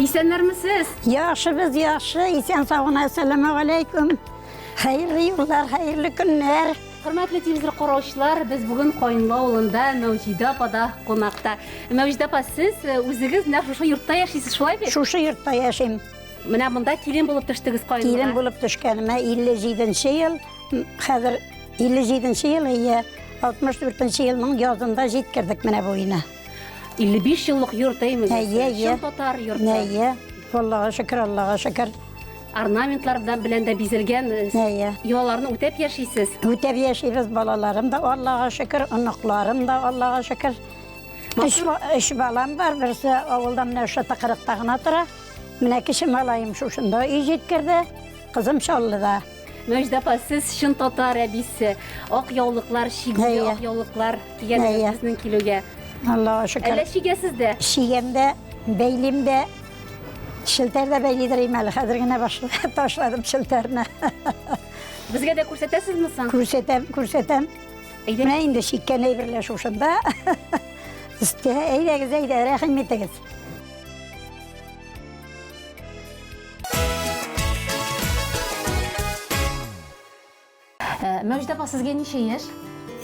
Исәннәрмесез? Яхшы без яхшы, исән саун әссәламу алейкум. Хәерле юллар, хәерле көннәр. Хөрмәтле телевизор караучылар, без бүген Кайынлы авылында Мәүҗидә апада кунакта. Мәүҗидә апа, сез э, үзегез нәкъ шушы йортта яшисез, шулай бит? Шушы йортта яшим. Менә монда килен булып төштегез Кайынлыга. Килен булып төшкәнемә 57 ел, хәзер 57 ел, 64 елның язында җиткердек менә буена. 55 еллык йорт әйме? Әйе, әйе. татар йорты. Әйе. Аллага шөкер, Аллага шөкер. Орнаментлар белән дә бизелгән. Э, әйе. Йолаларны үтәп яшисез? Үтәп яшибез, балаларым да Аллага шөкер, оныкларым да Аллага шөкер. Үш, үш балам бар, берсе авылда менә ошо тыкырыкта гына тора. Менә кеше малаем шушында өй җиткерде, кызым Чаллыда. Мәҗдә апа, сез чын татар әбисе. Ак яулыклар, шигли Әйе. ак яулыклар кигән Әйе. сезнең килүгә. Аллаһ шөкер. Әллә шигәсез дә? Шигәм дә, бәйлим дә. Шелтәр дә бәйлидер ием әле. Хәзер генә башлы- ташладым шелтәрне. Безгә дә күрсәтәсезме соң? Күрсәтәм, күрсәтәм. Әйдә. Менә инде шиккән әйберләр шушында. Өстә, әйдәгез, әйдә, рәхим итегез. Ә, Мәүҗдә апа, сезгә ничә яшь?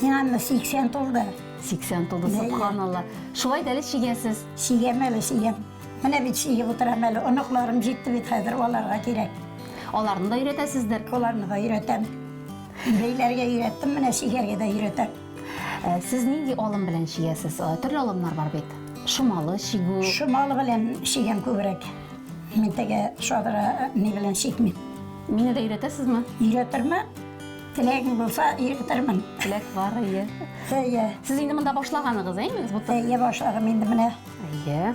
Миңа менә 80 тулды. 80 тулды, Бәле. субханалла. Шулай да әле чигәсез. Чигәм әле, чигәм. Менә бит чигеп утырам әле. Оныкларым җитте бит хәзер, аларга кирәк. Аларны да өйрәтәсездер. Аларны да өйрәтәм. Бәйләргә өйрәттем, менә чигәргә дә өйрәтәм. Ә, Сез нинди алым белән чигәсез? Ә, Төрле алымнар бар бит. Шомалы чигү. Шомалы белән чигәм күбрәк. Мин теге шодра ни белән чикмим. Мине дә өйрәтәсезме? Өйрәтермен. Теләгең булса, өйрәтермен. Теләк бар, әйе. Әйе. Сез инде монда башлаганыгыз, әйме? Әйе, башладым инде менә. Әйе.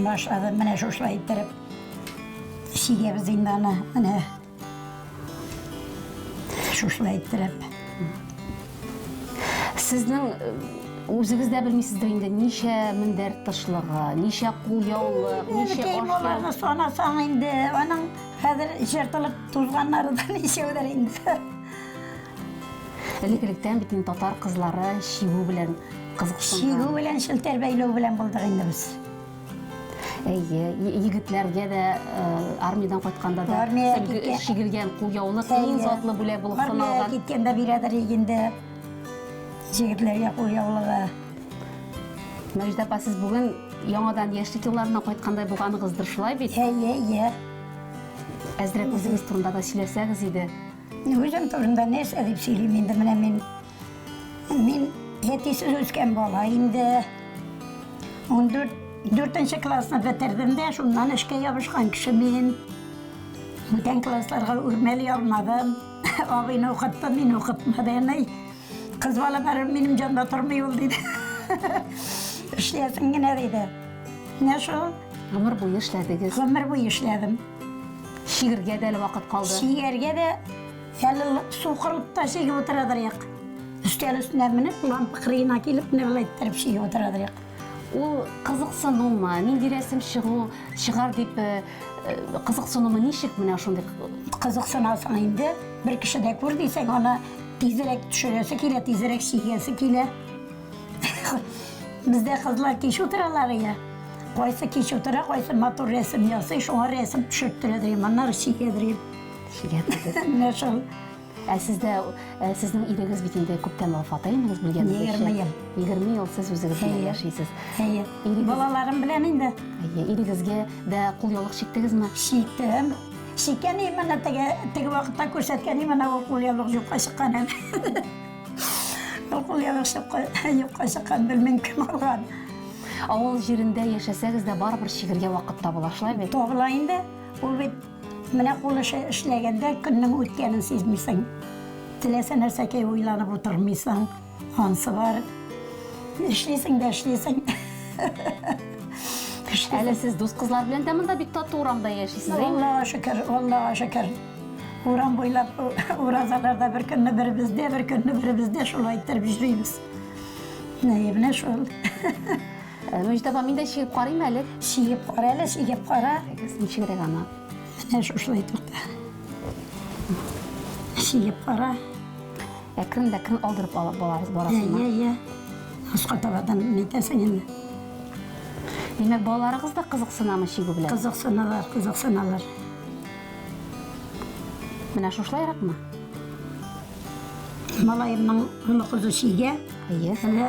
Башладым менә шушылай иттереп. Чигәбез инде аны, менә. Шушны әйттерәп. Сезнең үзегез дә белмисездер инде, ничә мендәр тышлыгы, ничә кул яулык, ничә ашлык. Санасаң инде, аның хәзер җыртылып тузганнары да ничәүдер инде. Элекелектән бит инде татар кызлары чигү белән кызыксынган. Чигү белән, челтәр бәйләү белән булдык инде без. Әйе, егетләргә дә э, армиядән кайтканда да Армиягә киткән- чигелгән кулъяулык иң затлы бүләк булып Армиягә саналган. киткәндә бирәдер инде җегетләргә кул яулыгы. Мәҗидә апа, сез бүген яңадан яшьлек елларына кайткандай булганыгыздыр, шулай бит? Әйе, әйе. Әзрәк үзегез турында да сөйләсәгез иде. Үзем турында нәрсә дип сөйлим инде менә мин Мин әтисез үскән бала инде. Ундүрт, дүртенче классны бетердем дә, шуннан эшкә ябышкан кеше мин. Бүтән классларга үрмәли алмадым. Абыйны укытты, мине укытмады, әни. Кыз бала барыбер минем җанда тормый ул, диде. Эшләсен генә, диде. Менә шул. Гомер буе эшләдегез. Гомер буе эшләдем. Чигергә дә әле вакыт калды. Чигәргә дә Әле су кырылып та чигеп утырадыр як. Өстәл өстенә менеп, лампа кырыена килеп, менә болай иттереп чигеп утырадыр як. Ул кызыксынумы, нинди рәсем чыгу, чыгар дип э, э, кызыксынумы, ничек менә шундый? Кызыксынасың инде, бер кеше дә күр дисәң, аны тизрәк төшерәсе килә, тизрәк чигәсе килә. Бездә кызлар кич утыралар я. Кайсы кич утыра, кайсы матур рәсем ясый, шуңа рәсем төшертерәдер, моннары чигәдер. Менә шул. Ә сездә э, сезнең ирегез бит инде күптән вафат, әйемегез белгән. 20 ел. 20 ел сез үзегез белән яшисез. Әйе. Балаларым белән инде. Әйе, ирегезгә дә кул яулык чиктегезме? Чиктем. Чиккән идем ана теге теге вакытта күрсәткән идем ана кул яулык юкка чыккан әле. Кул яулык юкка чыккан белмим кем алган. Авыл җирендә яшәсәгез дә барыбер чигергә вакыт табыла, шулай бит? Табыла инде. Ул бит Менә кул эше эшләгәндә көннең үткәнен сизмисең. Теләсә нәрсәгә уйланып утырмыйсың. Ансы бар. Эшлисең дә эшлисең. Әле сез дус кызлар белән дә монда бик тату урамда яшисез, әйме? Аллага шөкер, Аллага шөкер. Урам буйлап уразаларда бер көнне беребездә, бер көнне беребездә шулай иттереп йөрибез. Менә шул. Мөҗдә апа, мин дә чигеп карыйм әле. Чигеп кара әле, чигеп кара. Ничегрәк ана? Менә шушылай тукта. Чигеп кара. Ә кем дә кем алдырып алып балабыз барасыңмы? Йә, йә, йә. Ашка табадан нитәсең инде. Димәк, балаларыгыз да кызыксынамы чигү белән? Кызыксыналар, кызыксыналар. Менә шушылайракмы? Малаемның олы кызы чигә. Әйе. Әле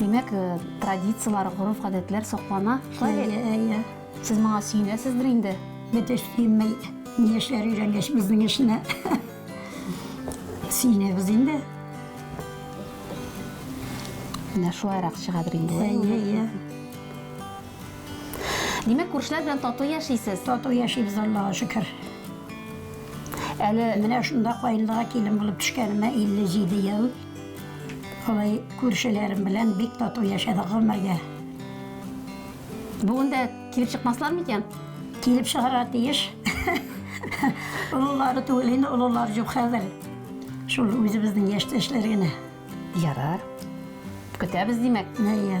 Димәк, э, традицияләр, гореф-гадәтләр саклана. Шулай бит? Әйе, әйе. Сез моңа сөенәсездер инде. Бит эш килмәй. Ни эшләр өйрәнгәч безнең эшне. Сөенәбез инде. Менә шулайрак чыгадыр инде. ул. Әйе, әйе. Димәк, күршеләр белән тату яшисез. Тату яшибез Аллага шөкер. Әле Менә шунда каенлыга килен булып төшкәнемә 57 ел. Алай күршеләрем белән бик тату яшәдек гомергә. Бүген дә килеп чыкмаслар микән? Килеп чыгарга тиеш. Олылары түгел инде, олылар юк хәзер. Шул үзебезнең яшьтәшләр генә. Ярар. Көтәбез, димәк. Әйе.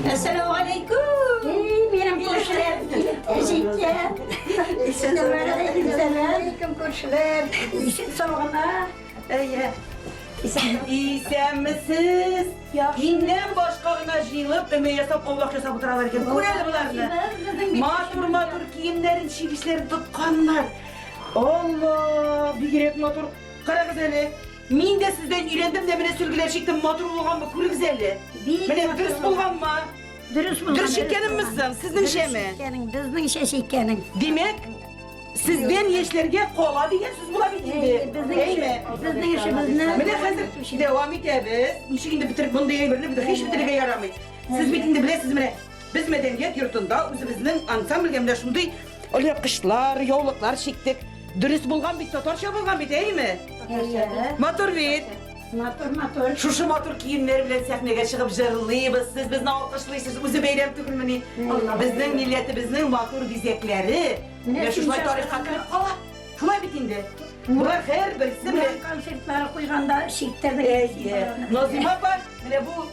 Әссәләмәгаләйкүм! Эй, минем күршеләр! Әҗикә! Әссәләмәгаләйкүм, сәлам! Кем күршеләр? Ишек саугына. Әйе. Исәнмесез. Миннән башка гына җыелып, өмә ясап, аулак ясап утыралар икән. Күр әле боларны. Матур-матур киемнәрен, чигешләрен тотканнар. Алла, бигрәк матур. Карагыз әле. Мин дә сездән өйрәндем дә менә сөлгеләр чиктем, матур булганмы, күрегез әле. Менә дөрес булганмы? Дөрес булган. Дөрес чиккәнемме соң, сезнеңчәме? Безнеңчә чиккәнең. Димәк, Сездән яшьләргә кала дигән сүз була бит инде. Әйме? Безнең эшебезне Менә хәзер дәвам итәбез. Ничек инде бетереп мондый әйберне бит һич бетерергә ярамый. Сез бит инде беләсез менә без мәдәният йортында үзебезнең ансамбльгә менә шундый алъяпкычлар, яулыклар чиктек. Дөрес булган бит, татарча булган бит, әйеме? Матур бит. Матур, матур. Шушы матур киемнәр белән сәхнәгә чыгып җырлыйбыз. Сез безне алкышлыйсыз. Үзе бәйрәм түгелмени? Безнең милләтебезнең матур бизәкләре. Менә шулай тарихка кереп кала. Шулай бит инде. Болар һәрберсе менә концертлар куйганда читтә Әйе. Назыйма апа, менә бу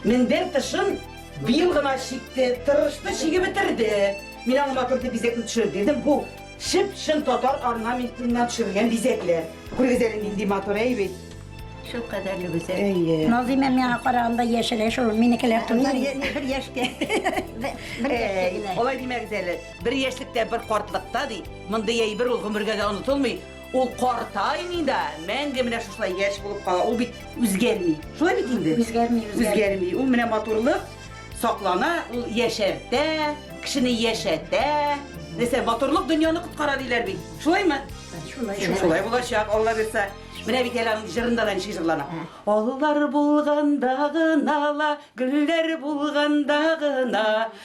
Мендәр тышын быел гына чикте, тырышты, чиге бетерде. Мин аңа матур дип бизәкне төшереп бирдем. Бу чып-чын татар орнаментыннан төшерелгән бизәкләр. Күрегез әле нинди матур, әй бит. Шул кадәрле гүзәл. Әйе. Назыйма миңа караганда яшерә шул минекеләр турында. Бер яшькә. Бер яшькә генә. Алай димәгез әле. Бер яшьлектә, бер картлыкта ди. Мондый әйбер ул гомергә дә онытылмый. Ул картаймый да, мәңге менә шушылай яшь булып кала. Ул бит үзгәрми. Шулай бит инде? Үзгәрми, үзгәрми. Үзгәрми. Ул менә матурлык саклана, ул яшәртә, кешене яшәтә. Нәрсә, матурлык дөньяны коткара диләр бит. Шулаймы? Шулай. Шулай булачак, Алла бирсә. Менә бит әле аның җырында да ничек җырлана. Аллар булганда гына ла, гөлләр булганда гына,